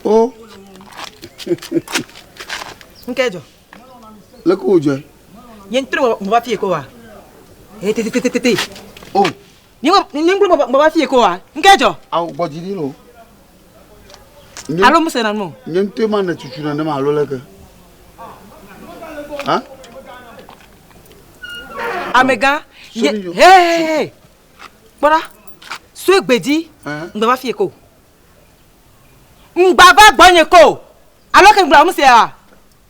o nke jɔ leke wòdzɔe nye ŋutɔ meva fie ko wa tete o Nyinglu bɔbɔ fi ko wa. Nke jɔ. Awo gbɔ dzi ɖi no. Alo mu se na no. Nye ŋutɔ ma ne tutu na ne ma alo le ke. Ha? Amega. Ye. Hey. Kpɔra. Sue gbedzi. Ngbe va fi ko. Ngba va gbɔ nye ko. Alo ke ngba mu se wa.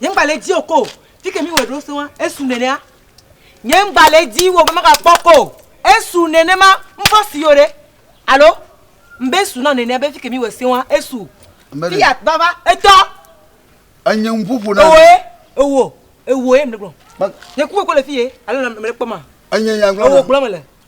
Nye ŋgba le edzi o ko. Fi ke míwɔe ɖo sẽŋa, esu nenea. Nye ŋgba le edzi o be magakpɔ ko. Esu nenema. Ŋfɔ si yo ɖe. Alo? Ŋbe esu na nenea be fi ke míwɔe sẽŋa, esu. Fiat, va, va, etɔ. Enye nuƒoƒo na mi. Ewoe, ewo, ewoe mele gblɔ. Nye ku koko le fi ye, alo mele kpɔma? Enye nya gblɔ na. Ewo gblɔ mele.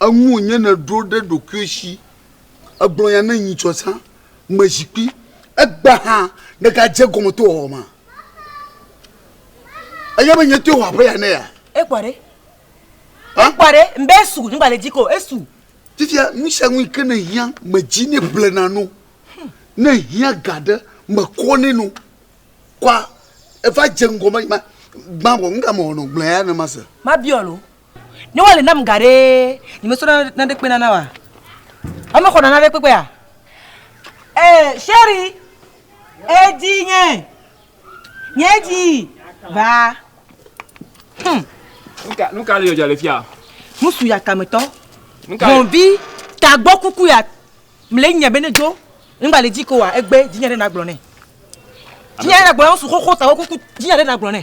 Eŋu wònye nèɖo ɖe ɖokuiwò si, ègblɔ nya ne nyitsɔ zã me zikpui. Egbea hã nègadze egɔme to wòwɔwɔ mea? Ènya be nyetoe wɔ aƒe ya ne yea? Ekpɔ ɖe. Ekpɔ ɖe. Mbe esu, nyigbalẽ dzi ko, esu. Fifia, nu sia nu yi ke nèhiã, medzi nɛ blena no. Ne èhiã ga ɖe, mekɔ nɛ no. Kɔa, eva dze ŋgɔ be, ma, gbã vɔ, nu ka mewɔ nɔ? Gblɔ eya ne mase. Mabiɔ lo. Ne wale nam ga ɖee, nyemesɔ naneke kpena na wa. Ame xɔna naneke kpekpea? Eh, Sherry, edzi nye, nye dzi va. Hmm. Nuka, nuka le dzɔdzɔ le fia? Nusu ya tametɔ. Nuka? Hɔnvi, tagbɔ kuku ya, mle nya bene dzo, nba le dzi ko wa, egbe, dzinya ɖe nagblɔ ne. Dzinya ɖe nagblɔ ne, nusu xoxo tagbɔ kuku, dzinya ɖe nagblɔ ne.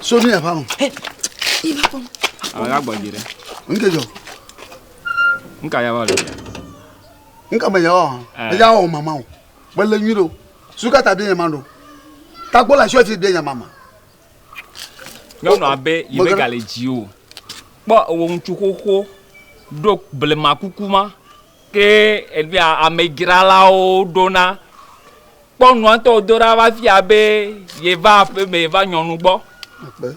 So ne yava ŋu. Alaga gbɔdzi ɖe. Nke dzɔ. Nka yava le. Nka me yawa. Eya wɔ mama o. Mele nyui ɖo. Suka ta bia nyama ɖo. Takpo le asi ɔti bia nyama ma. Nyɔnu abe yi be gale dzi o. Kpɔ ewo ŋutsu xoxo ɖo blema kuku ma. Ke egbea amedzralawo ɖona, kpɔ nua ŋutɔ wòdo ɖa va fia be yeva aƒe me va nyɔnu gbɔ. Akpe.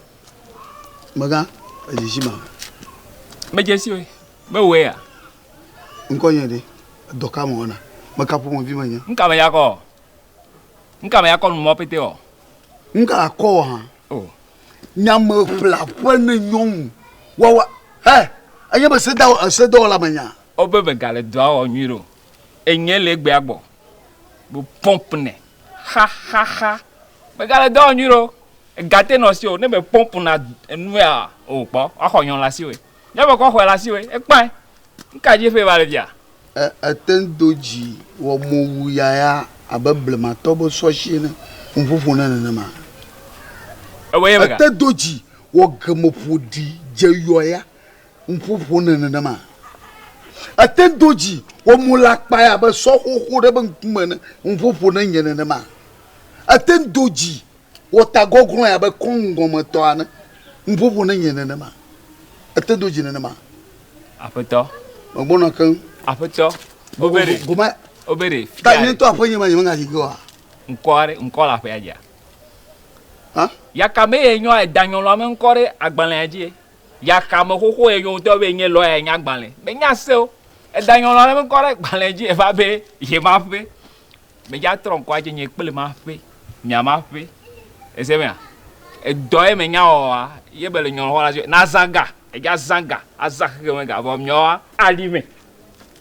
Megã, edzidzi ma. Medze si o. Mewɔe ya. Ŋkɔnye ɖe? Dɔ ka mewɔna? Meka ƒomevi menye? Nuka menya kɔ? Nuka menya kɔ nu mɔ pɛtɛ ɔ? Nuka akɔ wɔ hã? O. Nyameƒleaƒe ne nyɔnu wawa. Hɛ! Enye be sedawɔ, sedɔwɔla menye a? Wo be be gale dɔa wɔ nyuiɖe o enyɛ le egbea gbɔ be pomp nɛ xaxaxa be gale dɔa wɔ nyuiɖe o ega te nɔ si o ne be pomp na enue a o kpɔ wa xɔ nyɔ le asi woe nyɔ be kɔ xɔɛ le asi woe ekpɔɛ nuka dzi ƒe va le fia. E ete ŋu do dzi wɔ mowu yaya abe blematɔ be sɔshi ene ŋu ƒoƒo ne nenema e ete do dzi wɔ gemeƒoɖi dze yɔya Ŋuƒo ƒonɛ nenema. Ete do dzi wɔ mo le akpae abe sɔ xoxo ɖe be ŋkume ene. Ŋuƒo ƒonɛ nye nenema. Ete do dzi wɔ ta gɔglɔe abe kɔŋ gɔme tɔ ene. Ŋuƒo ƒonɛ nye nenema. Ete do dzi nenema. Aƒetɔ. Megbɔna keŋ. Aƒetɔ. Obere. Gome. Obere. Ta nye ŋutɔ aƒe nye ma nye me ŋayi ge oa? Ŋkɔ aɖe ŋkɔ le aƒea dzia? Hã? Yaka be ye nyɔ edanyɔlɔa me ŋkɔ ɖe agbalẽa dzi. Yaxame xoxo yɛ nyɔnu tɔ be yɛ nye lɔya yɛ nya gbalẽ. Me nya se wo. Eda nyɔnua ɖe ŋkɔ ɖe gbalẽ dzi eva be ye ma ƒe. Me dza trɔ ŋkɔ adze nye kple ma ƒe. Mia ma ƒe. Ese mea? Edɔ yɛ me nya wɔa yɛ be le nyɔnua xɔ la na zã ga. Edza zã ga. Azã xexe me ga vɔ mia woa a ɖi me.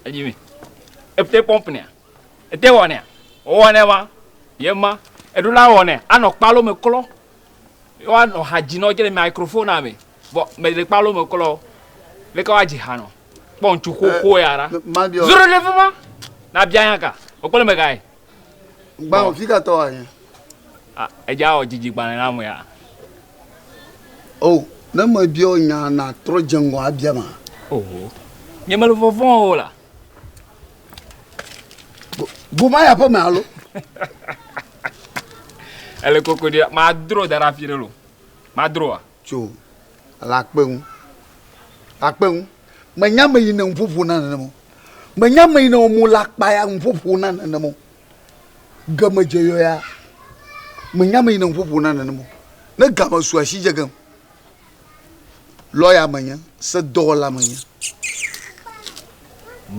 Aɖi me. Ete pɔmp nɛa? Ete wɔ nɛa? Wowɔ nɛ ma. Ye ma. Eɖo la wɔ nɛ. Anɔ kpalo me klɔ. Woanɔ ha dzi nɔ dze le microphonea me. Vɔ me le kpalo me klɔ. Leke woa dzi ha nɔ? Kpɔ ŋtsu xoxo ya ɖa. Zro ɖe fima. Na bia nya ka? Wò kple megae. Gbã wò fika tɔ wa nye. Ah, edza wɔ dzidzi gbalẽ na me ya. Oh, ne me bia wò nya na trɔ dze ŋgɔ abia ma. Oh, nye me le vɔvɔn o la. Goma ya ƒe me alo? Ele koko ɖi. Madro da ɖe afi ɖe lo. Madroa? Tso le akpe ŋu. Akpe ŋu. Menye ame yi ne nuƒoƒo na nenema o. Menye ame yi ne wɔ mo le akpa ya nuƒoƒo na nenema o. Game dze yɔ ya. Menye ame yi ne nuƒoƒo na nenema o. Ne game su asi dze gem. lɔya menye, sedɔwɔla menye.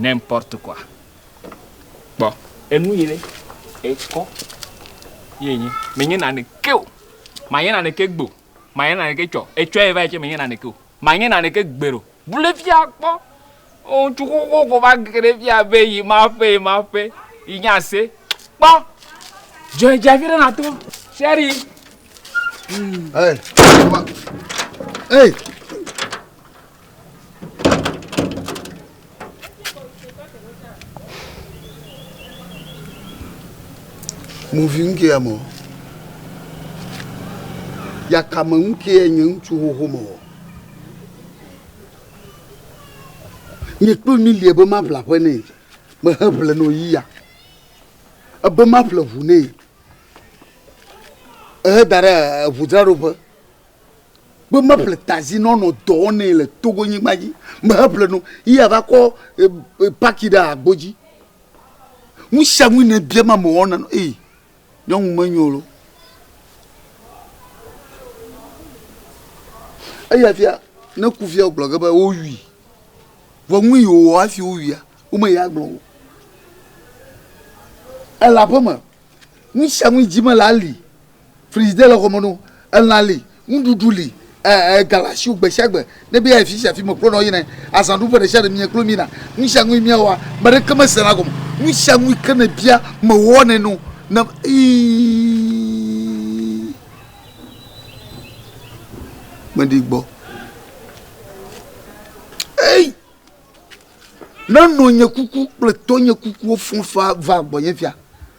N'importe quoi. Kpɔ. Enu yi ɖe ekɔ ye enye. Menye naneke o. Manye naneke gbe o. Manye naneke tsɔ. Etsɔe va yi tsɛ menye naneke o. Manye naneke gbeɖe o. Bu ɖe fia kpɔ. Ŋutsu xoxo ko va ge ɖe fia be yi ma ƒe yi ma ƒe yi nye ase. Kpɔ dzɔe dze afi ɖe na to seri. Hey. Hey. Muvi ŋkɛ ya mɔ. Yakame ŋkɛ nye ŋutsu xoxo mɔ. Nye kple mi lia be maƒle aƒe nɛ. Mehe ƒle nɔ yi ya. Ebe maƒle ʋu nɛ. Ehe da ɖe eʋu dzra ɖo ƒe. Be maƒle tazi nɔ nɔ dɔ wɔ nɛ le Togo nyigba dzi. Mehe ƒle nɔ yi ya va kɔ paki ɖe agbo dzi. Nusianu yi ne bia ma me wɔna nɔ ee. Nyɔnu menyo lo. Eya fia ne ku fia wogblɔ ge be wowui. Vɔ nu yi wòwɔ hafi wowuia, womeyi agblɔ o. Ele aƒeme. Nu sia nu yi dzi mele ali. Frigidaire le xɔme na wo. Elã li. Nuɖuɖu li, e, e, ga le asiwò gbesiagbe. Ne be ayi fisia fime kplo nɔ yina yi, azã ɖuƒe ɖesiaɖe mie kplo mina. Nusianui mia wɔa, meɖeke me sena gɔme. Nusianui ke ne bia, me wɔnɛ no. Ne, ii, me ɖi gbɔ. Ei! Ne nɔnye kuku kple tɔnye kukuwo fɔfa va gbɔnye fia.